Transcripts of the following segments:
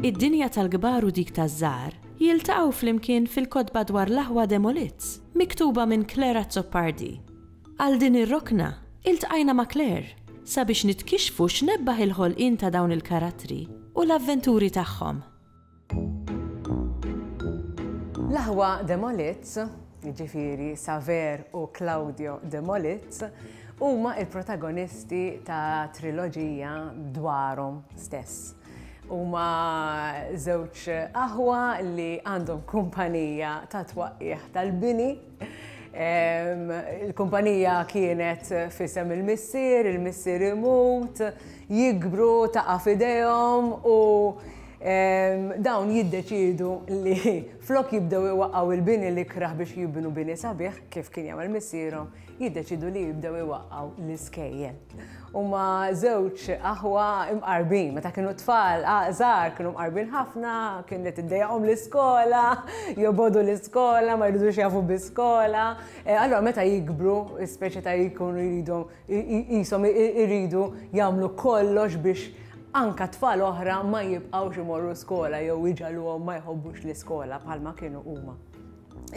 Id-dinja tal-kbar u dik taż-żgħar jiltaqgħu flimkien fil-kotba dwar l-aħwa Demolites, miktuba minn Claire Azzopardi. Għal din ir-rokna, iltqajna ma' Claire sabiex nitkixxfu x'nebbaħ il-ħolqien ta' dawn il-karattri u l-avventuri tagħhom. L-aħwa Demolits, jiġifieri Saver u Claudio Demolits, huma l-protagonisti ta' triloġija dwarhom stess. Huma żewġ aħwa li għandhom kumpanija ta' twaqqigħ tal-bini, Il-kumpanija kienet fisem il-missier, il-missier imut, jikbru ta' fidejhom u dawn jiddeċidu li flok jibdew iwaqgħu il-bini li kraħ biex jibnu bini sabiħ kif kien jagħmel missierhom, jiddeċidu li jibdew iwaqgħu l-iskejjel. Huma żewġ aħwa imqarbin, meta kienu tfal żgħar kienu mqarbin ħafna, kien li tiddejjaqhom l-iskola, jobodu l-iskola, ma jridux jafu biskola. E, allora meta jikbru, speċi ta' jkunu jridu jisom jridu jagħmlu kollox biex anka tfal oħra ma jibqgħux imorru skola jew iġaluhom ma jħobbux l-iskola bħalma kienu huma.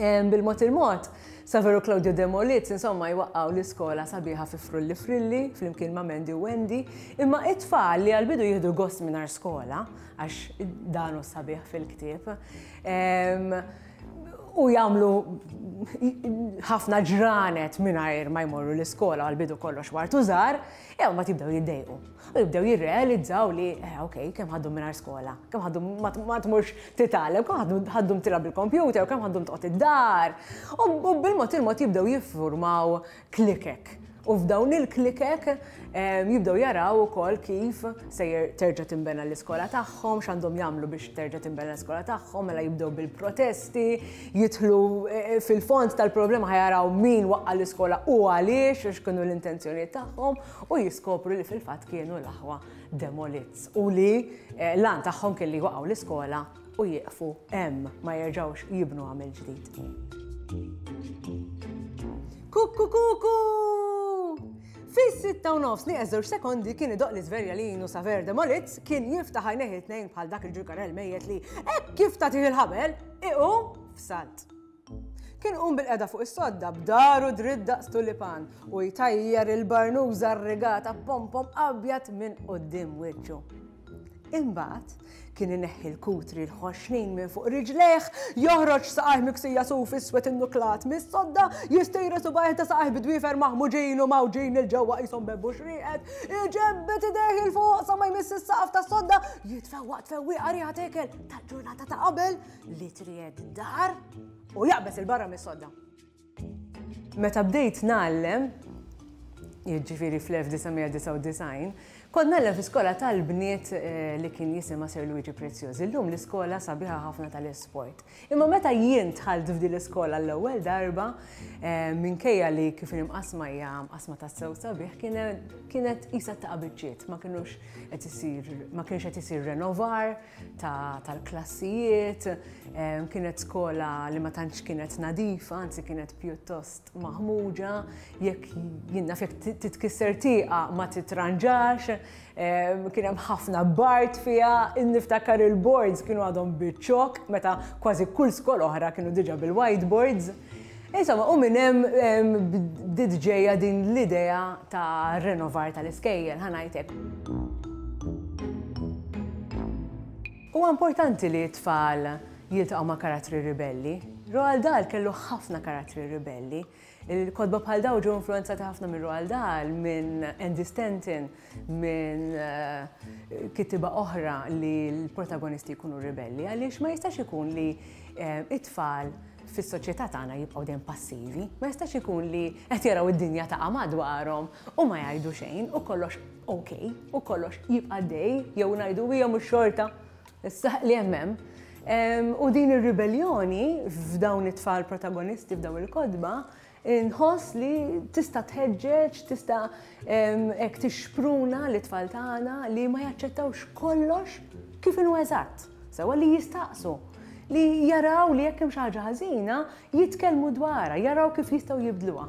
Bil-mod il-mod, Saveru Claudio Demoliz insomma jwaqqgħu l-iskola sabiħa fi Frulli Frilli flimkien ma' Mandy u Wendy, imma it-tfal li għal-bidu jieħdu gost mingħajr skola, għax danu sabiħ fil-ktieb, u jagħmlu ħafna ġranet mingħajr ma jmorru l-iskola għal-bidu kollox wartu żgħar, jew ma tibdew jiddejqu. U jibdew jirrealizzaw li, eh, ok, kemm ħaddum mingħajr skola, kemm ħaddum ma tmurx titgħallem, kemm ħaddum tilgħab bil-kompjuter, kemm ħaddum toqgħod id-dar. U bil-mod il-mod jibdew jiffurmaw klikek. U f'dawn il-klikek ehm, jibdew jaraw ukoll kif sejjer terġa' timbena l-iskola tagħhom, x'għandhom jagħmlu biex terġa' timbena l-iskola tagħhom, mela jibdew bil-protesti, jidħlu eh, eh, fil-fond tal-problema ħajaraw min waqqa l-iskola u għaliex, x'kienu l-intenzjonijiet tagħhom. u jiskopru li fil-fatt kienu l-aħwa demolits u li eh, lan tagħhom kelli waqgħu l-iskola u jieqfu hemm ma jerġgħux jibnu għamil ġdid. Kuku kuku! Fis-sitta u nofs nieqes żewġ sekondi kien idoq li żverja li jinu saver demolits kien jiftaħ għajneħi tnejn bħal dak il-ġukarel mejjet li hekk kif tagħtih il-ħabel iqu f'salt. Kien qum bil-qeda fuq is-sodda b'daru dritt daqs tulipan u jtajjar il-barnuża rrigata b'pompom abjad minn quddiem wiċċu. Imbagħad kien ineħħi l-kutri l-ħoxnin minn fuq riġlejh, joħroġ saqajh miksija suf iswed innuklat mis-sodda, jistejret subgħajh ta' saqajh bi dwiefer maħmuġin u mgħawġin 'il ġewwa qishom bebbuxx rieqed, iġebbed idejh 'il fuq sa ma jmiss is-saqaf tas-sodda, jitfewwaq tfewwieqa riħa ta' ikel tal-ġurnata ta' qabel, li tried dar u jaqbes il-barra mis-sodda. Meta bdejt nallem, jiġifieri fl-1999, kont nallem fi skola tal-bniet eh, li kien jisima Sir Luigi Preziosi. Illum l-iskola sabiħa ħafna tal-esport. Imma meta jien tħalt f'din l-iskola l-ewwel darba, eh, minkejja li kif imqasma hija mqasma tas-sew sabiħ, kienet isa ta' biċċiet, ma kienux qed isir, ma kienx qed isir renovar, tal-klassijiet, ehm, kienet skola li ma tantx kienet nadifa, anzi kienet pjuttost maħmuġa, jekk jinna fek titkisser tiqa ma titranġax, ehm, kien hemm ħafna bart fiha, niftakar il-boards kienu għadhom biċċok, meta kważi kull skola oħra kienu diġa bil-whiteboards. Insomma, u minn hemm bdiet ġejja din l-idea ta' renovar tal-iskejjel, ħa ngħidlek. Huwa importanti li t-tfal jiltaqgħu ma' karattri ribelli. Roald Dahl kellu ħafna karattri ribelli. Il-kotba bħal dawn ġew influenzati ħafna minn Roald Dahl, minn Andy Stanton, minn eh, kitiba oħra li l-protagonisti jkunu ribelli, għaliex ma jistax ikun li eh, it-tfal fis-soċjetà tagħna jibqgħu dejjem passivi, ma jistax ikun li qed jaraw id-dinja ta' madwarhom u ma jgħidu xejn u kollox ok, u kollox jibqa' dej jew ngħidu hija mhux xorta issa li hemm U din ir-ribelljoni f'dawn it-tfal protagonisti f'dawn il-kodba Inħoss li tista' tħeġġeġ, tista' hekk tixpruna li tfal tagħna li ma jaċċettawx kollox kif inhu eżatt, sewwa li jistaqsu li jaraw li jekk hemm xi ħaġa ħażina jitkellmu dwarha, jaraw kif jistgħu jibdluha.